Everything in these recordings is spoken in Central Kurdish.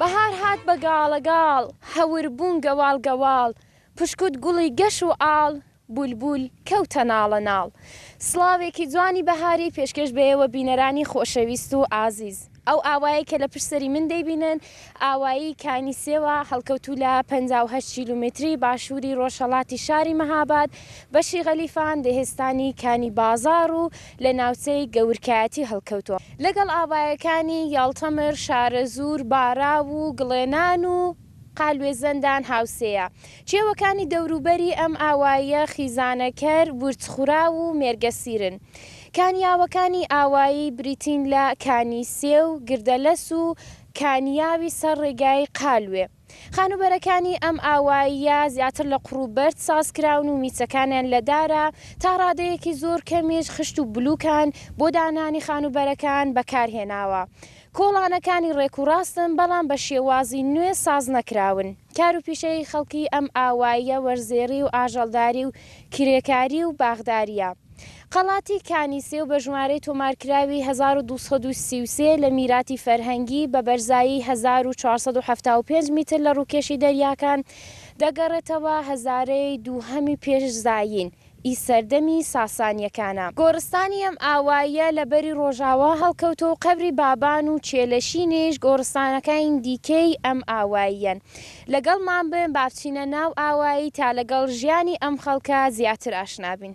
بەهار هات بە گاڵەگاڵ، هەور بوون گەواڵ گەواڵ، پشکووت گوڵی گەش و ئاڵ، بولبول کەوتە ناڵەناڵ. سڵاوێکی جوانی بەهاری پێشکێش بەێوە بینەرانی خۆشەویست و ئازیز. ئەو ئاوایەی کە لە پشت سەری من دەیبینن، ئاوایی کانی سێوە، هەڵکەوتوو لە پەنجا و هەشت کیلومتری باشووری ڕۆژهەڵاتی شاری مەهاباد، بەشی غەلیفان، دهستانی کانی بازاڕ و، لە ناوچەی گەورکایەتی هەڵکەوتووە. لەگەڵ ئاوایەکانی یاڵتەمر، شارەزوور، باراو و گڵێنان و قالوێ زەندان هاوسێیە. کێوەکانی دەوروبەری ئەم ئاواییە خیزانەکەر، ورچخوراو و مێرگەسیرن. کانیاوەکانی ئاوایی بریتین لە کانی سێو، گردەلەس و کانیاوی سەر ڕێگای قالوێ. خانووبەرەکانی ئەم ئاواییە زیاتر لە قوڕ و بەرد ساز کراون و میچەکانیان لە دارە، تا ڕادەیەکی زۆر کەمیش خشت و بلووکان بۆ دانانی خانووبەرەکان بەکار هێناوە. کۆڵانەکانی ڕێک و ڕاستن، بەڵام بە شێوازی نوێ ساز نەکراون. کار و پیشەی خەڵکی ئەم ئاواییە وەرزێڕی و ئاژەڵداری و کرێکاری و باخدارییە. قەڵاتی کانی سێو بە ژمارەی تۆمارکراوی هەزار و دوو سەد و سی و سێ لە میراتی فەرهەنگی، بە بەرزایی هەزار و چوار سەد و حەفتا و پێنج میتر لە ڕووکێشی دەریاکان، دەگەڕێتەوە هەزارەی دووهەمی پێش زایین ی سەردەمی ساسانییەکانە. گۆڕستانی ئەم ئاواییە لە بەری ڕۆژاوا هەڵکەوتووە و قەبری بابان و چێلەشینیش گۆڕستانەکانی دیکەی ئەم ئاواییەن. لەگەڵمان بن با بچینە ناو ئاوایی تا لەگەڵ ژیانی ئەم خەڵکە زیاتر ئاشنا بین.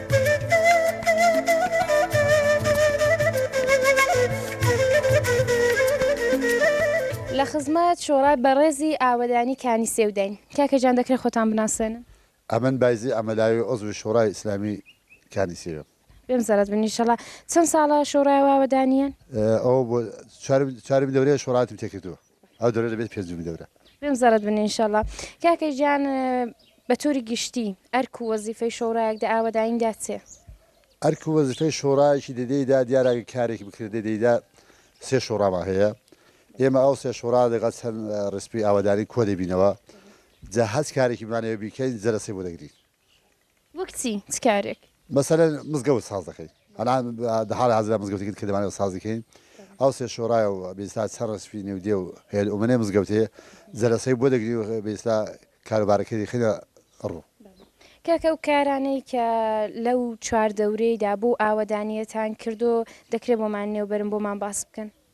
لە خزمەت شۆڕای بەڕێزی ئاوەدانی کانی سێوداین. کاکە گیان دەکرێت خۆتان بناسێنن؟ ئەمن بایزی ئەمەلاوی عوزوی شۆڕای ئیسلامی کانی سێوم. بێم زەرەد بن ئیشەڵا. چەن ساڵە شۆڕای و ئاوەدانیەن؟ ئەوە بۆ چوارمین دەورەیە شۆڕاتم تێکردووە. ئەو دەورە دەبێت پێ جووم دەورە. بێم زەرەد بن ئینشەڵا کاکە گیان بە تۆری گشتی ئەرک و وەزیفەی شۆڕایەک دە ئاوەدایندا چێ؟ ئەرک و وەزیفەی شۆڕایەکی دەدەیدا دیارە کارێکی بکرێت دەدەیدا سێ شۆڕامان هەیە ئێمە ئەو سێ شۆڕا دەگەڵ چەند ڕسپی ئاوەدانی کۆ دەبینەوە جا هەچ کارێکی بمانەوە بیکەین جەرەسەی بۆ دەگرین وەک چی چ کارێک؟ مەسەلەن مزگەوت ساز دەکەین ئەلان دە حاڵی حازرا مزگەوتێکت کە دەمانەوە سازی کەین ئەو سێ شۆڕایە و بە ئیستا چەند ڕەسفی نێو دێ و هێل ئومنەی مزگەوتێ جەلەسەی بۆ دەگری و بە ئیستا کاروبارەکەی دەخەینە ڕوو. کاکە ئەو کارانەی کە لەو چواردەورەیدا بۆ ئاوەدانییەتان کردووە دەکرێ بۆمان نێو بەرن بۆمان باس بکەن؟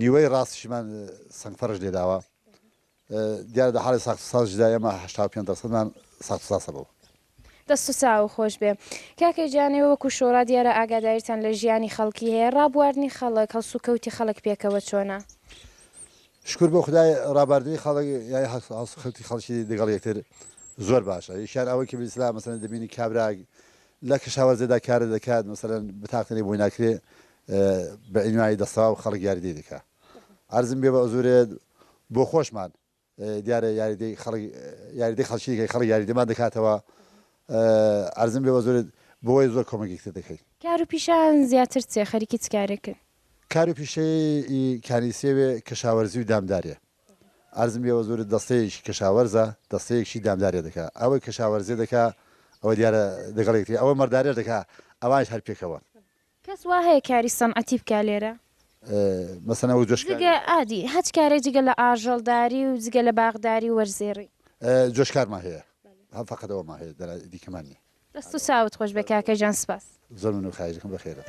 نیوەی ڕاستیشمان سەنگ فەرش لێداوە دیارە لە حاڵی ساخت ساز جدا ئێمە هەشتا و پێنج دەرسەدمان ساخت ساسە بەوە دەست و چاو خۆش بێ کاکەی جانەوە وەکو شۆڕا دیارە ئاگاداریتان لە ژیانی خەڵکی هەیە ڕابواردنی خەڵک هەڵس و کەوتی خەڵک پێکەوە چۆنە شکر بۆ خدای ڕاباردنی خەڵک یای هەڵس خەوتی خەڵکی دەگەڵ یەکتر زۆر باشە یشار ئەوەی کە بسلا مەسەن دەبینی کابراگ لە کەشاوەرزێدا کارە دەکات مەسەرەن بتاقتنی بۆی ناکرێ بە عنوانی دەستەواو خەڵک یاریدەی دەکا عەرزم بێ بەعزورێت بۆ خۆشمان دیارە یاریدەی خەڵک یاریدەی خەڵکی دیکەی خەڵک یاریدەمان دەکاتەوە عەرزم بێ بەعزورێت بۆیە زۆر کۆمەگی تر دەکەین. کار و پیشەیان زیاتر چیە خەریکی چ کارێکن؟ کار و پیشەی ئی کانیسێوێ کەشاوەرزی و دامداریە عەرزم بێ بەعزورێت دەستەیەکی کەشاوەرزە دەستەیەکشی دامداریە دەکا ئەوەی کەشاوەرزێ دەکا ئەوە دیارە دەگەڵ یەکتری ئەوە مەرداریەش دەکا ئەوانیش هەر پێکەوەن کەس وا هەیە کاری سەنعەتی بکا لێرە؟ مەسەلەن وەک جۆشکاوی. جگە ئادی هەچ کارێک جگە لە ئاژەڵداری و جگە لە باغداری و وەرزێڕی. جۆشکارمان هەیە هەر فەقەت ئەوەمان هەیە دەرا دیکەمان نیە. دەست و چاوت خۆش بێ کاکە گیان سپاس. زۆر مەمنون خایش دەکەم بەخێربێن.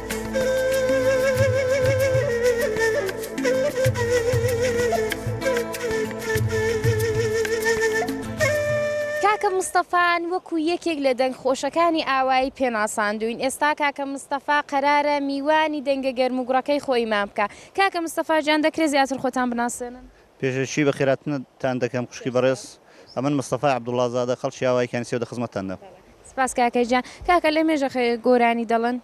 کاکە مستەفان وەکو یەکێک لە دەنگ خۆشەکانی ئاوایی پێناساندووین ئێستا کاکە مستەفا قەرارە میوانی دەنگە گەرموگوڕەکەی خۆیمان بکا کاکە مستەفا جان دەکرێ زیاتر خۆتان بناسێنن؟ پێشەکی بە خێراتنت تان دەکەم خوشکی بەڕێز ئەمن مستەفای عبداللە زادە خەڵکی ئاوایی کانی سێو دە خزمەتتان دەم. سپاس کاکە گیان. کاکە لە مێژە خێ گۆرانی دەڵن؟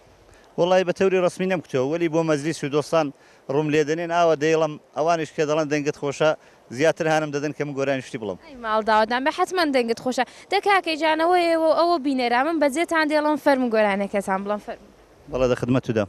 وەڵایی بە تەوری ڕەسمی نەم کوتەوە وەلی بۆ مەجلیس و دۆستان ڕووم لێ دەنێن ئاوە دەیڵم ئەوانیش کە دەڵێن دەنگت خۆشە زیاتر هانم دەدەن کە من گۆرانی شتی بڵێم. ئەی ماڵ داوەت نامبێ حەتمەن دەنگت خۆشە. دە کاکە گیان ئەوە ئێوە و ئەوە بینەرە من بە جێتان دەیڵم فەرموو گۆرانیەکەتان بڵێن فەرموو. بەڵێ دە خدمەت و دەم.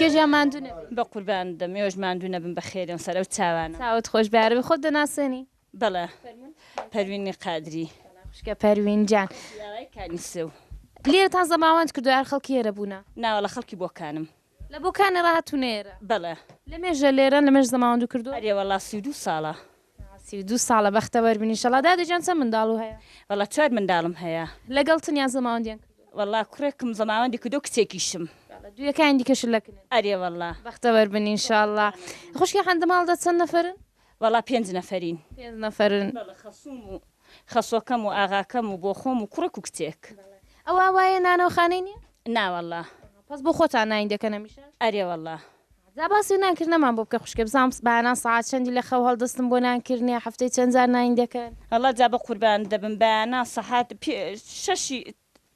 کێژیان ماندوو نەبێ. بەقوربانت بم ئێوەش ماندوو نەبن بەخێرێن سەر ئەو چاوانە. چاوت خۆش بێ عەرەبی خۆت دەناسێنی؟ بەڵێ پەروینی قادری. سڵام خوشکە پەروین جان. خەڵکی ئاغای کانیسەو. لێرەتان زەماوەند کردوە یار خەڵکی ئێرە بوونە؟ ناوەڵا خەڵکی بۆکانم. لە بۆکانی ڕاهاتوون ئێرە؟ بەڵێ. لەمێژە لێرەن؟ لەمێژە زەماوەندو کردووە؟ ئەرێ وەڵا سی و دوو ساڵە. سی و دوو ساڵە، بەختەوەر بن ئیشەڵا. دادە گیان چەند منداڵو هەیە؟ وەڵا چوار منداڵم هەیە. لەگەڵتن یان زەماوەندیان کردووە؟ وەڵا کوڕێکم زەماوەندی کردووە کچێکیشم. بەڵێ دوویەکانی دیکەش لەکنن؟ ئەرێ وەڵا. بەختەوەر بن ئیشەڵا. خوشکی حەمدماڵ دە چەند نەفەرن؟ وەڵا پێنج نەفەرین. پێنج نەفەرن. بەڵێ خەسووم و خەسووەکەم و ئاغاکەم و بۆخۆم و کوڕێک و کچێک. ئەوا وایە نانەوخانەی نیە؟ نا وەڵا. پەس بۆ خۆتان ناین دەکەن هەمیشە؟ ئەرێ وەڵا. جا باسی نان کردنەمان بۆ بکە خوشکە بزانم بانان سەعات چەندی لە خەو هەڵدەستن بۆ نان کردنێ هەفتەی چەند جار ناین دەکەن؟ وەڵا جا بەقوربانت دەبم بایانان سەحات پێ شەشی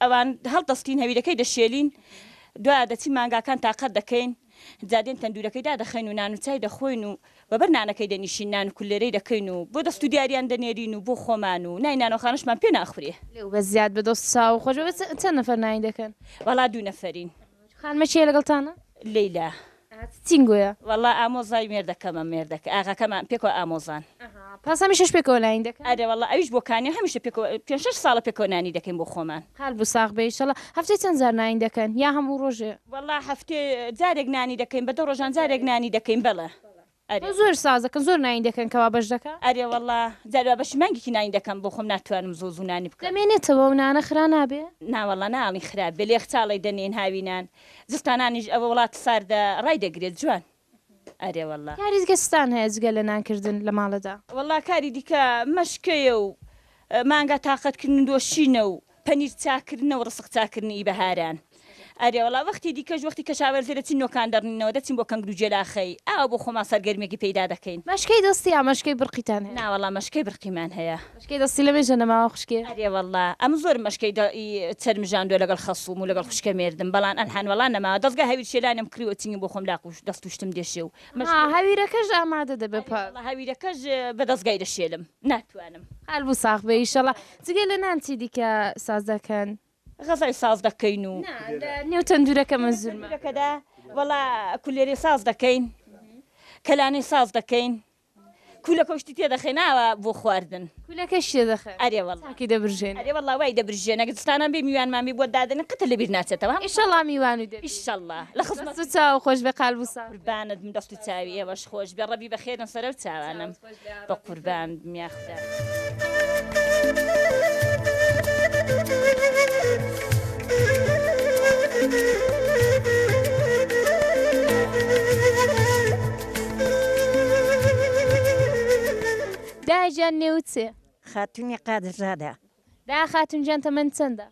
ئەوان هەڵدەستین هەویرەکەی دەشێلین دوایە دەچین مانگاکان تاقەت دەکەین جا دێن تەندورەکەی دادەخەین و نان و چای دەخۆین و بەبەر نانەکەی دەنیشین نان و کولێرەی دەکەین و بۆ دەست و دیاریان دەنێرین و بۆ خۆمان و نای نانۆخانەشمان پێ ناخورێ. لەو بەس زیاد بە دۆست چاو خۆش بە چەند نەفەر نانی دەکەن؟ وەڵا دوو نەفەرین. خانمە کێ لەگەڵتانە؟ لەیلا. ئەها چ تینگۆیە. وەڵا ئامۆزای مێردەکەمە مێردەکە ئاغاکەمان پێکەوە ئامۆزان. ئەها پاس هەمیشەش پێکەوە نانی دەکەن. ئەرێ وەڵا ئەویش بۆ کانیە هەمیشە پێکەوە پێنج شەش ساڵە پێکەوە نانی دەکەین بۆ خۆمان. قەلبو ساغ بێ ئیشەڵا. هەفتەی چەند جار نانی دەکەن یا هەموو ڕۆژێ؟ وەڵا هەفتەی جارێک نانی دەکەین بە دە ڕۆژان جارێک نانی دەکەین بەڵێ. ئەرێ زۆر ساز دەکەن زۆر ناین دەکەن کەوا بەش دەکا. ئەرێ وەڵا جاری وا بەشی مانگێکی ناین دەکەم بۆ خۆم ناتوانم زوو زوو نانی بکەم. دەمێنێتەوە و نانە خرا نابێ؟ نا وەڵا ناڵین خراپ بێ لە یەخچاڵێ دەنێین هاوینان زستانانیش ئەوە وڵات ساردە ڕای دەگرێت جوان ئەرێ وەڵا. کاری دیکە چتان هەیە جگە لە نان کردن لە ماڵەدا؟ وەڵا کاری دیکە مەشکەیە و مانگا تاقەت کردن و دۆشینە و پەنیر چاککردنە و ڕسق چاککردن ی بەهاران. ئەرێ وەڵا وەختی دیکەش وەختی کەشاوەرزێ دەچین نۆکان دەڕنینەوە دەچین بۆ کەنگرو جێلاخەی ئاوا بۆ خۆمان سەرگەرمیەکی پەیدا دەکەین. مەشکەی دەستی یا مەشکەی برقیتان هەیە؟ نا وەڵا مەشکەی برقیمان هەیە. مەشکەی دەستی لەمێژە نەماوە خوشکێ؟ ئەرێ وەڵا ئەمن زۆرم مەشکەی دە ی چەرم ژاندوە لەگەڵ خەسوم و لەگەڵ خوشکە مێردم بەڵان ئەلحان وەڵا نەماوە دەزگا هەویر شێلانم کریوە چنگم بۆ خۆم لاق و دەست و شتم دێشێ و مەشکەی ئەها هەویرەکەش ئامادە دەبێ پاش. ئەرێ وەڵا هەویرەکەش بە دەزگای دەشێلم ناتوانم. قالبو ساغ بێ ئیشەڵا. جگە لە نان چی دیکە ساز دەکەن؟ غەزەل ساز دەکەین و. نا لە نێو تەندورەکە مەنزورمە. لە تەندورەکەدا وەڵا کولێرێ ساز دەکەین کەلانی ساز دەکەین کولەکە و شتی تێ دەخەین ئاوا بۆ خواردن. کولەکەش تێ دەخەن؟ ئەرێ وەڵا. چاکی دەبرژێنن؟ ئەرێ وەڵا وای دەبرژێنن ئەگەر دزستانان بێ میوانمان بێ بۆت دادەنێن قەت لەبیر ناچێتەوە. ئیشەڵا میوانو دەبی. ئیشەڵا لە خزمەتت. دەست و چاوو خۆش بێ قالبو ساغ بی. قوربانت بم دەست و چاوی ئێوەش خۆش بێ ڕەبی بەخێرن سەرەو چاوانم. بەقوربان بم یاخوداا. دایە گیان نێوت چێ؟ خاتونی قادرزادە. دەعا خاتون گیان تەمەنت چەندە؟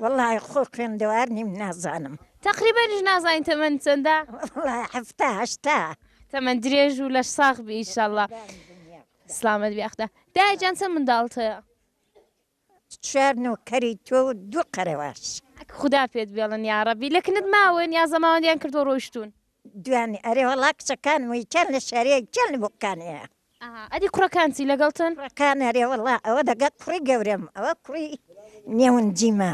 وەڵاهی خۆ خوێندەوار نیم نازانم. تەقریبەنیش نازانی تەمەنت چەندە؟ وەڵاهی حەفتا هەشتا. تەمەن درێژ و لەش ساغ بی ئیشەڵا. سڵامەت بی ئاخدا. دایە گیان چەند منداڵت هەیە؟ چوار نۆکەری تۆ و دوو قەرەواش. ئەک خودا پێت بێڵن یاڕەبی. لە کنت ماون یا زەماوەندیان کردوە ڕۆیشتون؟ دوانی ئەرێ وەڵا کچەکانم و یەکیان لە شاری یەکیان لە بۆکانێیە. ئەها ئەدی کوڕەکان چی لەگەڵتن؟ کوڕەکان ئەرێ وەڵا ئەوە لەگەڵ کوڕی گەورەم ئەوە کوڕی نێون جیمە.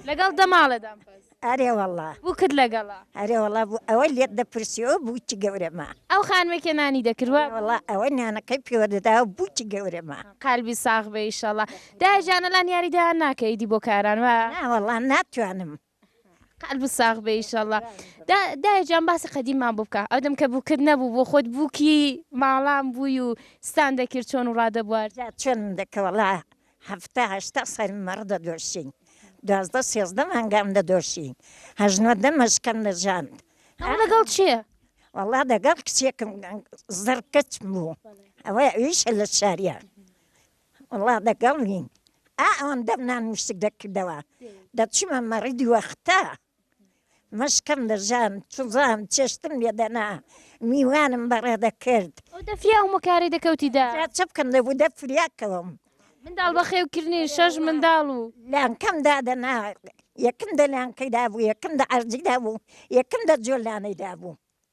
لەگەڵ دەماڵەدام بەس. ئەرێ وەڵا. بووکت لەگەڵە. ئەرێ وەڵا بوو ئەوەی لێت دەپرسیەوە بووکی گەورەمە. ئەو خانمەی کە نانی دەکرد وا. ئەرێ وەڵا ئەوەی نانەکەی پێوە دەداوە بووکی گەورەمە. قالبی ساغ بێ ئیشەڵا. دایە جانە لان یاری دەیان ناکە ئیدی بۆ کاران وا. نا وەڵا ناتوانم. قەلبت ساغ بێ ئیشەڵا دایە جان باسی قەدیممان بۆ بکە ئەودەم کە بووکت نەبوو بۆ خۆت بووکی ماڵان بووی و ستان دەکرد چۆن و ڕادەبوارد جا چۆنم دەکرد وەڵا هەفتا هەشتا سەری مەڕ دەدۆشین دوازدە سێزدە مانگان دەدۆشین هەشت نۆ دە مەشکەم دەژاند ئەوە لەگەڵ چێ؟ وەڵا دەگەڵ کچێکم زڕ کچم بوو ئەوە ئەویشە لە شاریان وەڵا دەگەڵ نیم ئا ئەوەم دەم نان وشک دەکردەوە دەچمە مەڕی دووەختە مەشکەم دەژان چزان چێشتم لێدەنا میوانم بەڕێ دەکرد دەفریا ئەو مکاری دەکەوتیدا چ بکەم دەبوو دە فریاکەوەم منداڵ بەخێوکردنی شەش منداڵ و لانکەم دادەنا یەکم دە لانکەی دابوو یەکم دە عەرجی دابوو یەکم دە جۆلانەی دابوو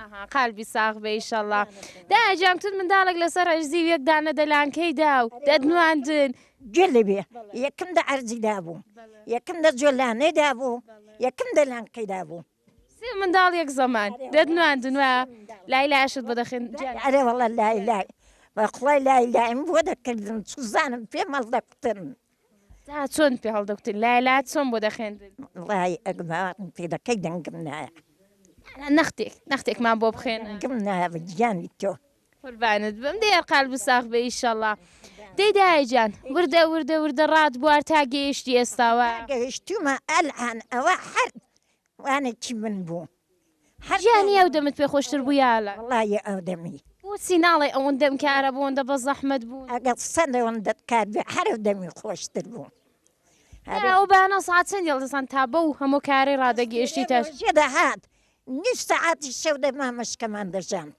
ئەها قالبی ساغ بێ ئیشەڵا دایە گیان تون منداڵێک لەسەر عەرزی و یەک دانە دەلانکەی دا و دەتنواندن. گوێ لێ بێ یەکم دە عەرزی دابوو یەکم دە جۆلانێ دابوو یەکم دە لانکەی دابوو. سێ منداڵ یەک زەمان دەتنواندن و لای لایەشت بۆ دەخەین گیان. ئەرێ وەڵا لای لای بەخوای لای لایم بۆ دەکردن چزانم پێم هەڵدەکوتن. تا چۆن پێ هەڵدەکوتن لای لا چۆن بۆ دەخێندن ڵای ئەگڵاڕم پێ دەکەی دەنگم نایە نەختێک نەختێکمان بۆ بخێن گم نایە گیانی تۆ قوربانت بم دێ قال بساخ بە ئیشەڵا دەی دایجان وردە وردە وردە ڕات بوار تا گەیشتی ئێستاوە گەیشتومە ئەلان ئەوە حەر وانێکی من بوو گیانی ئەو دەمت پێ خۆشتر بوو یا لە. وەڵایی ئەو دەمی. بۆچی ناڵێی ئەوەندەم کارە بۆندە بە زەحمەت بوو. ئەگەر سەد ئەوەندەت کار بێ هەر ئەو دەمی خۆشتر بوو. ئەرێ ئەو بەیانە سەعات چەندی هەڵدەستان تا بەو هەموو کارەی ڕادەگەیشتیتە. ڕۆژێ دەهات نیو سەعاتی شەو دەمامەشکەمان دەژاند.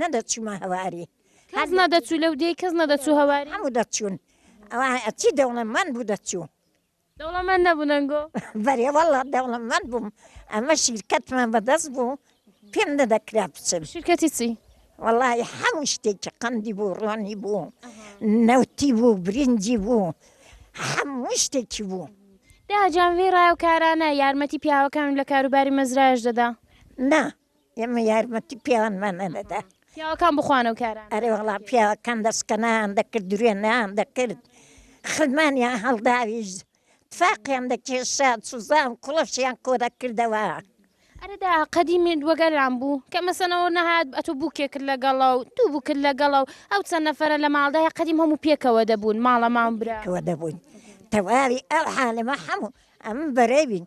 نەدەچوومە هەواری کەس نەدەچوو لەو دێی کەس نەدەچوو هەواری هەموو دەچوون ئەوە ئەچی دەوڵەمەند بوو دەچوو دەوڵەمەند نەبوو نەنگۆ بەرێ والله دەوڵەمەند بووم ئەمە شیرکەتمان بەدەست بوو پێم نەدەکرا بچم شرکەتی چی والله هەموو شتێکی قەندی بوو ڕۆنی بوو نەوتی بوو برنجی بوو هەموو شتێکی بوو داجان وێ ڕایە و کارانە یارمەتی پیاوەکانم لە کاروباری مەزرایش دەدا نا ئێمە یارمەتی پیاوانمان نەدەدا. پیاوەکان بخوانە و کارانە. ئەرێ وەڵا پیاوەکان دەسکەنایان دەکرد، دروێنەیان دەکرد، خرمانیان هەڵداویشت، تفاقیان دەکێشا، سوزان و کوڵەشیان کۆ دەکردەوە. ئەرێ دا قەدیم وەگەران بوو، کە مەسەنەوە نەهات، ئەتوو بووکێکت لەگەڵە و دوو بووکت لەگەڵە و ئەو چەند نەفەرە لە ماڵدا هەیە، قەدیم هەموو پێکەوە دەبوون، ماڵە ماڵ برا. پێکەوە دەبووین. تەواوی ئەو عالەمە هەموو ئەم بەرەی بین.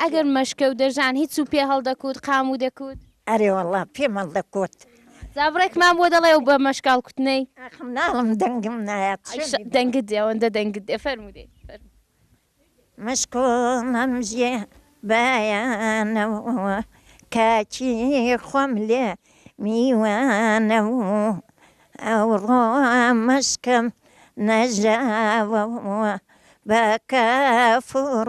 ئەگەر مەشکە و دەژان هیچ و پێ هەڵدەکوت، قام و دەکوت؟ ئەرێ وەڵڵا پێم هەڵدەکوت. جا بڕێکمان بۆ دەڵێ ئەو بە مەشکە هەڵکوتنەی؟ ئاخ مناڵم دەنگم نایات چۆن بیڵێم. دەنگت دێ ئەوەندە دەنگت دێ فەرموو دێ فەرموو. مەشک و مەمژێ بایانە و کاکی خۆم لێ میوانە و ئەوڕۆ مەشکم نەژاوە و بە کافوڕ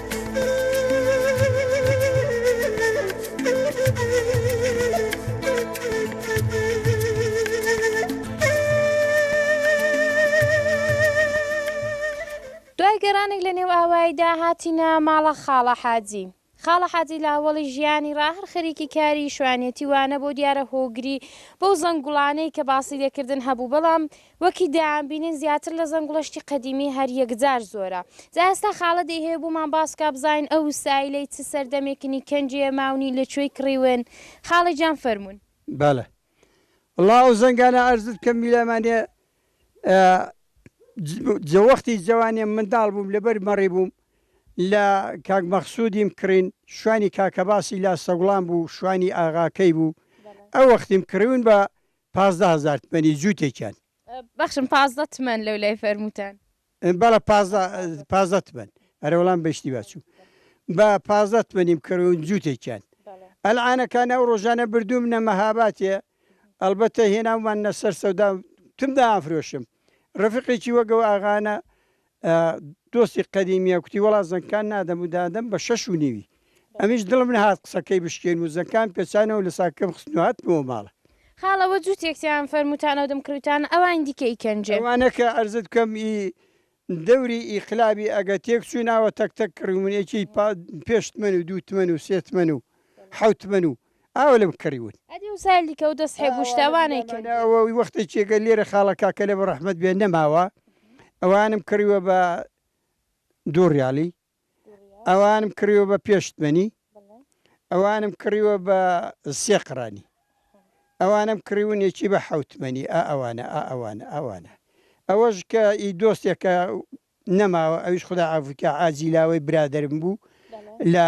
دوای گەرانێک لە نێو ئاواییدا هاتینە ماڵە خاڵە حاجی. خاڵە حاجی لە ئەوەڵی ژیانی ڕا هەر خەریکی کاری شوانێتی وانەبوو دیارە هۆگری بەو زەنگوڵانەی کە باسی لێ کردن هەبوو بەڵام وەکی دەیان بینن زیاتر لە زەنگوڵە شتی قەدیمی هەر یەکجار زۆرە جا ئێستا خاڵە دەی هەیە بۆمان باس کا بزانین ئە وسایلەی چ سەردەمێکنی کەنجی یە ماونی لە کوێی کڕیون خاڵە گیان فەرموون. بەڵێ وەڵا ئەو زەنگانە ئەرزت بکەم میرامان هەیە جە وەختی جەوانیم منداڵ بووم لەبەر مەڕی بووم لە کاک مەخسودیم کڕین شوانی کاکەباسی لا سەگوڵان بوو شوانی ئاغاکەی بوو ئەوەختیم کڕیون بە پازدە هەزار تمەنی جووتێکیان. بەخشم پازدە تمەن لەو لای فەرمووتان. بەڵێ پازدە پازدە تمەن. ئەرێ وەڵام بە ئیشتیبا چووم. بە پازدە تمەنیم کڕیون جووتێکیان. ئەلعانەکان ئەو ڕۆژانە بردوومنە مەهاباتێ، ئەڵبەتە هێناوماننە سەر سەودا و تم دایانفرۆشم. ڕەفیقێکی وەک ئەو ئاغانە دۆستی قەدیمیە کوتی وەڵا زەنگکان نادەم و دادەم بە شەش و نیوی ئەمیش دڵم نەهات قسەکەی بشکێنم و زەنگکان پێچانەوە لە ساکەکەم خستن و هاتمەوە ماڵە. خاڵە وە جوتیەک تیان فەرموتانەو دم کروتانە ئەوانی دیکە ئی کەنجێ. ئەوانە کە عەرزت بکەم ئی دەوری ئیقلابی ئەگە تێک چووناوە تەک تەک کڕیومن ئێکێی پا پێش تمەن و دوو تمەن و سێ تمەن و حەوت تمەن و ئاوا لەم کەڕی وت. ئەدی وسایل دیکە و دەست حێب و شتە ئەوانەی کرد؟ ئەوانەی لامانە ئەوە وەختێ چێگە لێرە خاڵە کاکە لە بەڕەحمەت بێ نەماوە ئەوانم کڕیوە بە دوو ڕیالی ئەوانم کڕیوە بە پێش تمەنی ئەوانم کڕیوە بە سێ قڕانی ئەوانم کڕیون یەکی بە حەوت تمەنی ئا ئەوانە ئا ئەوانە ئەوانە ئەوەش کە ئی دۆستێکە نەماوە ئەویش خودا عەفوی کا عاجیلاوەی برادەرم بوو لە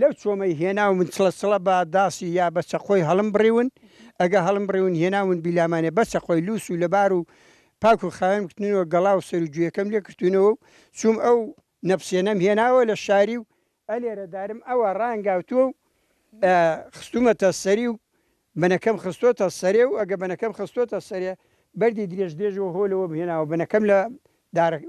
لەو چۆمەی هێناومن چڵە چڵە بە داسی یا بە چەقۆی هەڵمبڕیون، ئەگە هەڵمبڕیون هێناومن بیلامانێ بە چەقۆی لووس و لەبار و پاک و خاوێنم کردنەوە گەڵا و سەر و گوێکەم لێ کرتوونەوە و چووم ئەو نەپسێنەم هێناوە لە شاری و ئەلێرە دارم ئەوە ڕانگاوتووە و خستوومەتە سەری و بنەکەم خستۆتە سەرێ و ئەگە بنەکەم خستۆتە سەرێ بەردی درێژ درێژ و هۆ لەوەم هێناوە بنەکەم لە دارەکە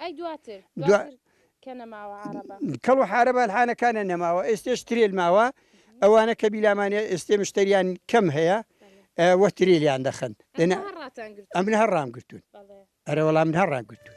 ئەی دواتر دواتر کە نەماوە عارەبە. کەڵ و حارەبە الحانەکانە نەماوە ئێستێش ترێل ماوە ئەوانە کە بیلامانە ئێستێ مشتەریان کەم هەیە وە ترێلیان دەخەن دەنا ئەمن هەر ڕام گرتون ئەرە وەڵا من هەر ڕام گرتون.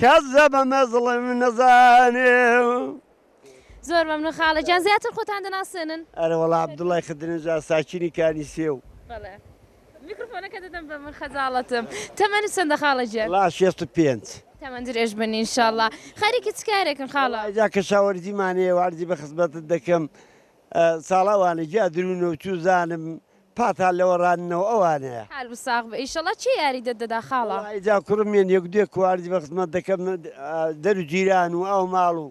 کەس لە بە مەزڵم نەزانێ. زۆر مەمنون خاڵە گیان زیاتر خۆتان دەناسێنن. ئەرێ وەڵا عەبدوڵای خدرنژاد ساکینی کانیسێو. بەڵێ میکرۆفۆنەکە دەدەم بە من خەجاڵەتم. تەمەنت چەندە خاڵە گیان؟ وەڵا شێست و پێنج. تەمەن درێژ بن ان شاء اللە. خەریکی چ کارێکن خاڵە؟ وەڵا جا کەشاوەرزیمان هەیە و عەرزی بە خزمەتت دەکەم ساڵە وانە جا درو نەوتوو زانم پاتان لە وەڕاننەوە ئەوانەیە. حال و ساغ بئ ئیشەڵا کێ یاریدەت دەدا خاڵە. وەڵایی جا کوڕم یەن یەک دوێ کواردی بە خزمەت دەکەم دەرو جیران و ئاو ماڵ و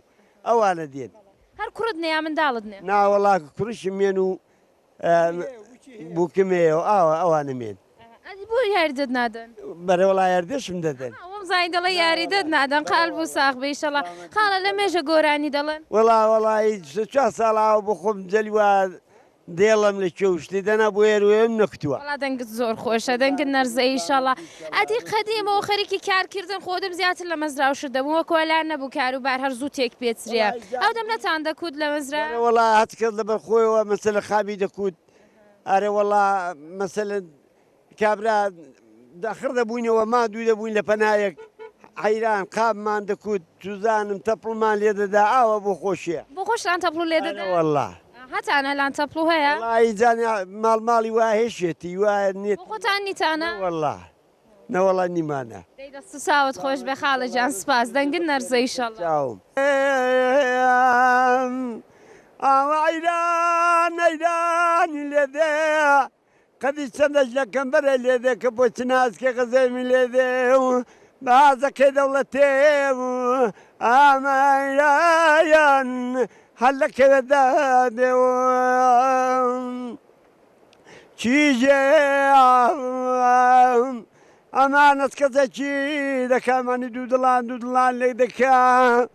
ئەوانە دێن. هەر کوڕت نێ یا منداڵت نێ. نا وەڵا کوڕیشم یەن و بوکم یە و ئاوە ئەوانم یەن. ئەدی بۆ یاریدەت نادەن. بەرە وەڵا یاردەشم دەدەن. ئەها وەم زانی دەڵێ یاریدەت نادەن قال بو ساغ بئ ئیشەڵا خاڵە لە مێژە گۆرانی دەڵێن. وەڵا وەڵایی سێ چوار ساڵە ئاو بۆ خۆم جەلی وا دێڵم لە کێو شتی دەنا بۆ یەر وێم نەکتووە. وەڵا دەنگت زۆر خۆشە دەنگت نەرزەیی ئیشەڵا ئەدی قەدیمەوە خەریکی کار کردن خۆدم زیاتر لە مەزرا و شت دەبووم وەک وەلا نەبوو کارو بار هەر زوو تێک پێچرێ ئەو دەم نەتان دەکوت لە مەزرا؟ ئەرێ وەڵا هەتکەس لەبەر خۆیەوە مەسەلەن خابی دەکوت ئەرێ وەڵا مەسەلەن. کابرا داخڕ دەبووینەوە، ماندوو دەبووین لە پەنایەک، عەیران، قاپمان دەکوت، چوزانم تەپڵمان لێ دەدا، ئاوا بۆ خۆشیە. بۆ خۆشتان تەپڵو لێ دەدا؟ ئەرێ وەڵا. هەتان ئەلان تەپڵو هەیە؟ وەڵایی جان ماڵ ماڵی وا هێشێتی وا نێت. بۆ خۆتان نیتانە؟ نەوەڵا نەوەڵا نیمانە. دەی دەست و چاوت خۆش بێ خاڵە جان سپاس دەنگت نەرزێ ئیشەڵا. چاوم. ئاوا عەیران عەیرانی لێ دێ. قەدی چەندەش لە کەمبەرە لێدێ کە بۆ چ ناسکێ غەزێمی لێدێ و بە هازەکەی دەوڵەتێ و ئامایان هەر لە کەوێ دادێ و چیژێ ئەمانەت کەسەکی دەکا مانی دوو دڵان دوو دڵان لێک دەکا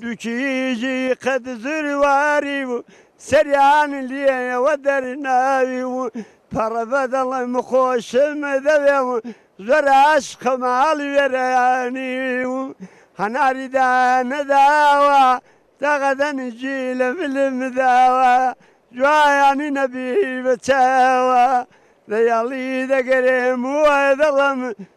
دوو کیژی قەد زرواری بوو سەریان لێیەوە دەرناوی و پەڕە بە دڵم خۆشم دەوێ و زۆر ئاشقە ماڵی وێرانی و هەناری دانەداوە دەغە دەنگی لە ملم داوە جوایانی نەبی بە چاوە لە یاڵی دەگەرێم و دڵم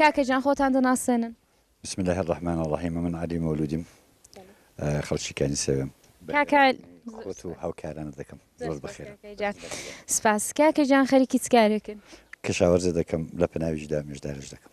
کاکە جان خۆتان دەناسێنن. بسم الله الرحمن الرحیم من علی مولودیم خەڵکی کانی سەوێم خۆت و هاوکارانە دەکەم زۆر بخێر سپاس کاکە جان خەریکی چکارێکن کەشاوەرزە دەکەم لە پناویشدا مێژدارش دەکەم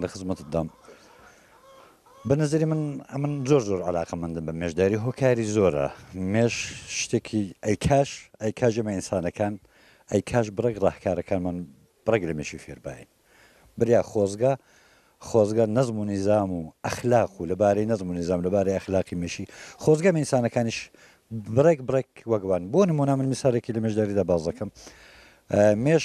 لە خزمەتت دام. بە نەزەری من ئەمن زۆر زۆر علاقە مندم بە مێشداری هۆکاری زۆرە مێش شتێکی ئەیکاش ئەیکاژە مە ئینسانەکان ئەیکاش بڕێک ڕاهکارەکانمان بڕێک لە مێشی فێربین بریا خۆزگە خۆزگە نەزم و نیزام و ئەخلاق و لەبارەی نەزم و نیزام لەبارەی ئەخلاقی مێشی خۆزگە ئینسانەکانیش بڕێک بڕێک وەگوان بۆ نمونە من میسارێکی لە مێشداریدا باز دەکەم مێش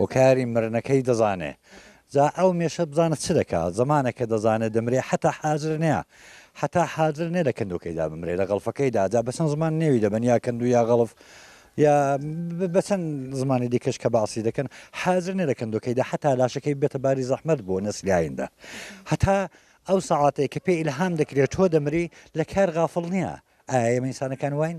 هۆکاری مرنەکەی دەزانێ جا ئەو مێشە بزانە چ دەکا زەمانە کە دەزانێ دەمرێ حەتا حازر نیا حەتا حازر نێ لە کندوکەیدا بمرێ لە غەڵفەکەیدا جا بەچەند زمان نێوی دەبەن یا کندو یا غەڵف یا بەچەند زمانی دیکەش کە باسی دەکەن حازر نێ لە کندوکەیدا حەتا لاشەکەی بێتە باری زەحمەت بۆ نەسلیایندە هەتا ئەو سەعاتەیە کە پێ ئیلهام دەکرێت تۆ دەمری لە کار غافڵ نییە ئایا ئێمە ئینسانەکان واین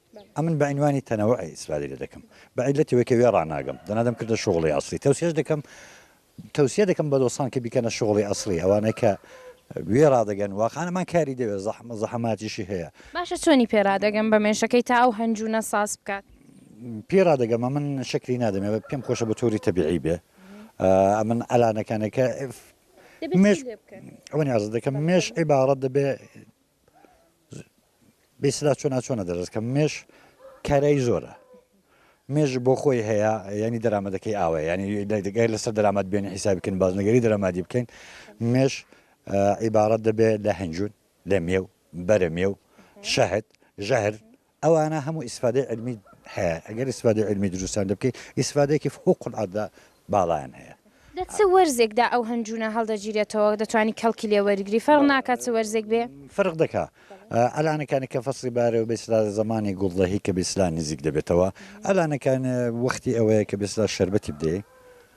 ئەمن بە عینوانی تەنەوعێ ئیسرائیلە دەکەم، بە عیللەتی وەکێ وێڕا ناگەم، دەنا دەم کردە شوغڵێ ئەسڵی، تەوسیەش دەکەم تەوسیە دەکەم بە دۆسان کە بیکەنە شوغڵی ئەسڵی ئەوانەی کە وێڕا دەگەن، واقعەن ئەمان کاری دەوێ زەحم زەحەماتیشی هەیە. باشە چۆنی پێ رادەگەم بە مێشەکەی تا ئەو هەنجوونە ساز بکات؟ پێی رادەگەم ئەمن شەکری نادەم ئێ پێم خۆشە بە تۆری تەبیعی بێ ئەمن ئەلانەکانێ کە مێش ئەوەنی ئازدەکەم مێش عیباڕەت دەبێ. بیسرا چۆنا چۆنە دەرس کەم مێش کارایی زۆرە مێژ بۆ خۆی هەیە ینی دەرامەتەکەی ئاوە ینی دەگای لەسەر دەرامەت بێن حیساب بکەن بازنەگەری دەرامادی بکەین مێش عیبارەت دەبێت لە هەنجون لە مێو بەرە مێو شەهد ژەهر ئەوانە هەموو ئیسفادەی عیلمی هەیە ئەگەر ئیسفادەی عیلمی دروستیان لێ بکەی ئیسفادەیەکی فوق العادە باڵایان هەیە. لە چ وەرزێکدا ئەو هەنجوونە هەڵدەگیرێتەوە دەتوانی کەڵکی لێ وەرگری فەرق ناکا چ وەرزێک بێ؟ فەرق دەکا ئەلانە کانێ کە فەسڵی بارەوە بێ سلا زەمانی گوڵ دەهی کە بێ سلا نزیک دەبێتەوە ئەلانە کانێ وەختی ئەوەیە کە بێ سلا شەربەتی بدەی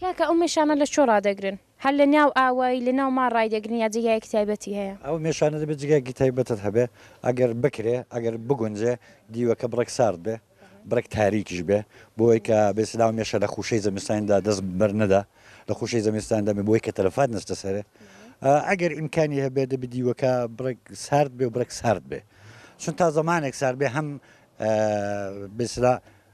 کاکە ئەو مێشانە لە کوێ ڕادەگرن؟ هەر لە ناو ئاوایی لە ناو مار ڕایدەگرن یا جێگایەکی تایبەتی هەیە؟ ئەو مێشانە دەبێ جێگایەکی تایبەتت هەبێ ئەگەر بکرێ ئەگەر بگونجێ دیوەکە بڕێک سارد بێ بڕێک تاریکیش بێ بۆی کە بێسە ناو مێشە لە خوشەی زەمستانیدا دەست بەر نەدا لە خوشەی زەمستاندا بێ بۆی کە تەلەفات نەچتە سەرێ ئەگەر ئیمکانی هەبێ دەبێ دیوەکە بڕێک سارد بێ و بڕێک سارد بێ چون تا زەمانێک سارد بێ هەم بێسرا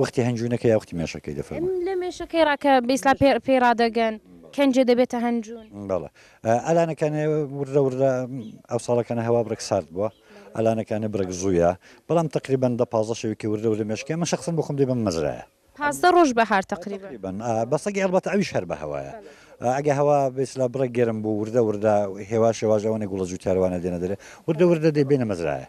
وەختی هەنجوونەکە یا وەختی مێشەکەی دەفەرموو؟ لە مێشەکەی ڕا کە بە ئیسلا پێ پێی ڕادەگەن کەنجێ دەبێتە هەنجوون. بەڵێ ئەلانەکانێ وردە وردە ئەو ساڵەکانە هەوا بڕێک سارد بووە ئەلانەکانێ بڕێک زوویە بەڵام تەقریبەن دە پازدە شەوێکی وردە وردە مێشکەکەی من شەخسەن بۆ خۆم دەی بەم مەزرایە پازدە ڕۆژ بەهار تەقریبەن. تەقریبەن ئا بە سەگی ئەڵبەتە ئەویش هەر بە هەوایە ئا ئەگە هەوا بە ئیسلا بڕێک گەرم بوو وردە وردە هێواش هێواش ئەوەنە گوڵە جووتیارەوانە دێنە دەرێ وردە وردە دەی بێنە مەزرایە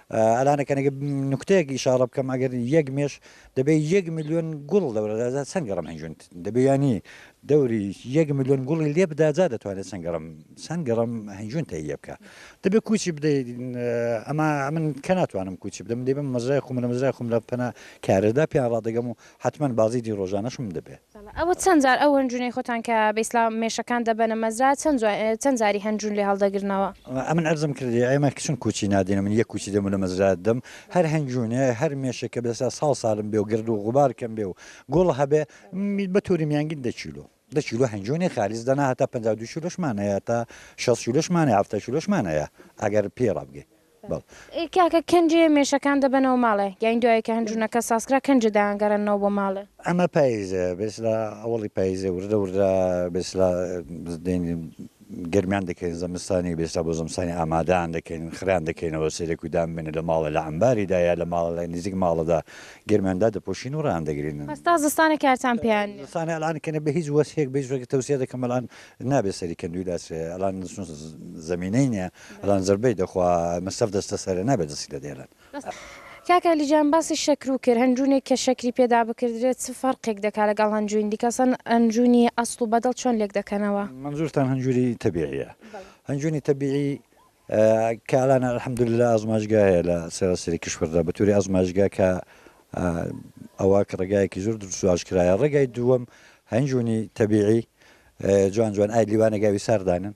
ئەلانەکە نەگە نوکتەیەک ئیشاڕە بکەم ئەگەر یەک مێش دەبێ یەک ملیۆن گوڵ دەورەدازا چەند گەڕم هەنجونت دەبێ ینی دەوری یەک ملیۆن گوڵی لێ بداجا دەتوانێت چەند گەڕم چەند گەڕم هەنجون تەی لێ بکە دەبێ کوچی بدەیت ئەما من کە ناتوانم کوچی بدەم دەبم مەزرای خۆم لە مەزرای خۆم لە پەنا کارەدا پێیان ڕادەگەم و حەتمەن بازیجی ڕۆژانەشم دەبێ. ئەوە چەند جار ئەو هەنجوونەی خۆتان کە بە ئیسلام مێشەکان دەبەنە مەزرا چەند چەند جاری هەنجوون لێ هەڵدەگرنەوە؟ ئەمن عەرزم کردی ئێمە کچن کوچی نادەین ئەمن یەک کوچی دەموو لە مەزرا دەم هەر هەنجوونێ هەر مێشێ کە بێسا ساڵ سالم بێ و گرد و غوبار کەم بێ و گوڵ هەبێ بە تۆری میانگین دە کیلۆ دە کیلۆ هەنجوونی خالیس دەنا هەتا پەنجا و دوو کیلۆشمان هەیە تا شەست کیلۆشمان هەیە حەفتا کیلۆشمان هەیە ئەگەر پێی ڕابگەی بەڵێ. ئێ کاکە کەنجێ مێشەکان دەبەنەوە ماڵێ یان دوایێ کە هەنجوونەکە سازکرا کەنجێ دایانگەڕێننەوە بۆ ماڵێ؟ ئەمە پاییزە بێسلا ئەوەڵی پاییزە وردە وردە بێسلا دێنین. گەرمیان دەکەین زەمستانی بە ئێستا بۆ زەمستانی ئامادەیان دەکەین خڕیان دەکەینەوە سەیرێک و دان بێنێ لە ماڵێ لە عەمباریدا یا لە ماڵە لای نزیک ماڵەدا گەرمیان دادەپۆشین و ڕایان دەگرین. پس تا زستانێ کارتان پێیان نیە. زستانێ ئەلان کەنێ بە هیچ وەسهێک بە هیچ وەسهێک تەوسیە دەکەم ئەلان نابێ سەری کەندوی لاسرێ ئەلان زمینەی نیە ئەلان زەربەی دەخوا مەسەف دەستە سەرێ نابێ دەستی لێ دەیلێن. کاک علی جان باسی شەکرو کرد هەنجونێک کە شەکری پێدا بکردرێت چ فەرقێک دەکات لەگەڵ هەنجوین دیکە ئەسڵەن هەنجونی ئەسڵ و بەدڵ چۆن لێک دەکەنەوە؟ مەنزورتان هەنجوری تەبیعیە هەنجونی تەبیعی کە ئەلان الحمدللە ئازمایشگا هەیە لە سەراسەری کیشوەردا بەتوری ئازمایشگا کە ئەوە کە ڕێگایەکی زۆر دروست و ئاشکرایە ڕێگای دووەم هەنجونی تەبیعی جوان جوان ئای لیوانە گاوی ساردانن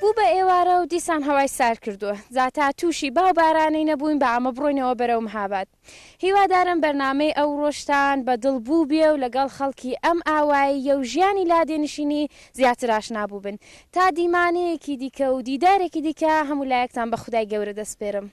بوو بە ئێوارە و دیسان هەوای سارد کردووە، جا تا تووشی با و بارانەی نەبووین بە ئامە بڕۆینەوە بەرەو مهاباد. هیوادارم بەرنامەی ئەوڕۆشتان بە دڵ بووبێ و لەگەڵ خەڵکی ئەم ئاواییە و ژیانی لادێنشینی زیاتر ئاشنا بووبن. تا دیمانەیەکی دیکە و دیدارێکی دیکە هەموو لایەکتان بە خودای گەورە دەسپێرم.